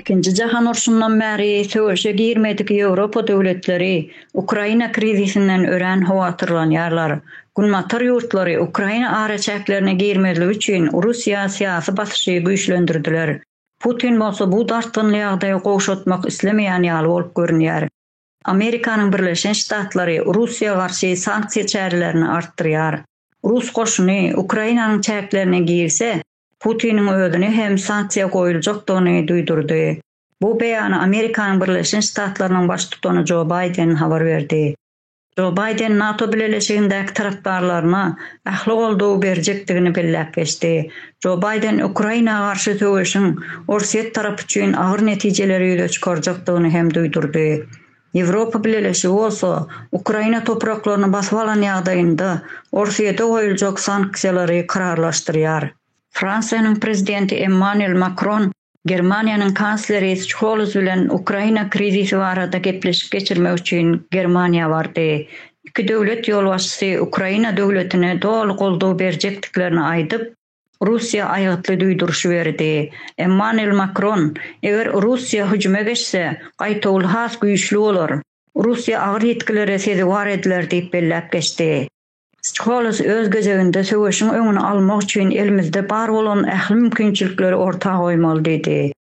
Ikinji jahan urşundan bäri söweşe girmedik Ýewropa döwletleri Ukraina krizisinden örän howatyrlanýarlar. Günbatar ýurtlary Ukraina araçäklerine girmezlik üçin Russiýa syýasy basyşy güýçlendirdiler. Putin bolsa bu dartgynly ýagdaýy gowşatmak islemeýän ýaly bolup görünýär. Amerikanyň Birleşen Ştatlary Russiýa garşy sanksiýa çärelerini artdyrýar. Rus goşuny Ukrainanyň çäklerine girse, Putiniň özüne hem sanksiýa goýuljakdygyny duýdurdy. Bu beýany Amerikanyň Birleşen Ştatlarynyň baştutany Jo Baýden habar berdi. Jo Baýden NATO bileleşigindäki tarapdarlaryna ähli goldawy berjekdigini belläp geçdi. Jo Baýden Ukraina garşy söweşiň Orsýet tarapy üçin agyr netijeleri ýüze çykarjakdygyny hem duýdurdy. Ýewropa Bileleşigi bolsa Ukraina topraklaryny basyp alan ýagdaýynda Orsýete goýuljak sanksiýalary kararlaşdyrýar. Fransiýanyň prezidenti Emmanuel Makron Germaniýanyň kansleri Şols bilen Ukraina krizisi barada gepleşik geçirmek üçin Germaniýa bardy. Iki döwlet ýolbaşçysy Ukraina döwletine doly goldaw berjekdiklerini aýdyp, Russiýa aýgytly duýduryşy berdi. Emmanuel Makron, Eger Russiýa hüjüme geçse, gaýtawul has güýçli bolar. Russiýa agyr ýitgilere sezewar ediler diýip belläp geçdi. Skoles öz gezeginde söweşiň öňüni almak üçin elimizde bar bolan ähli mümkinçilikleri orta goýmaly diýdi.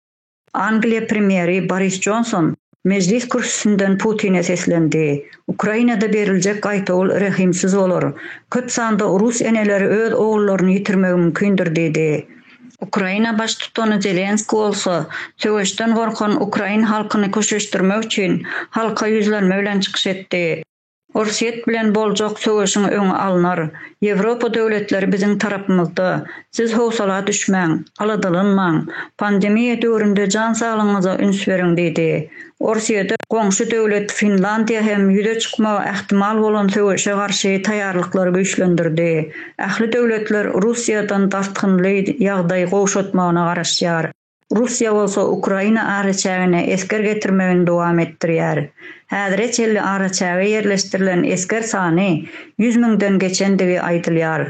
Angliýa premýeri Boris Jonson Mejlis kürsüsinden Putine seslendi, Ukrainada beriljek gaýtawul rehimsiz bolar, köp sanda rus eneleri öz ogullaryny ýitirmegi mümkindir diýdi. Ukraina baştutany Zelenski bolsa söweşden gorkan ukrain halkyny köşeşdirmek üçin halka ýüzlenme bilen çykyş etdi. Orsýet bilen boljak söweşiň öňi alnar. Ýewropa döwletleri biziň tarapymyzda. Siz howsala düşmäň, aladalanmaň. Pandemiýa döwründe jan saglygyňyza üns beriň diýdi. Orsýede goňşy döwlet Finlandiýa hem ýüze çykmagy ähtimal bolan söweşe garşy taýýarlyklary güýçlendirdi. Ähli döwletler Russiýadan dartgynly ýagdaý gowşatmagyna garaşýar. Russiýa bolsa Ukraina araçägine esger getirmegini dowam etdirýär. Häzire çenli araçäge ýerleşdirilen esger sany ýüz müňden geçendigi aýdylýar.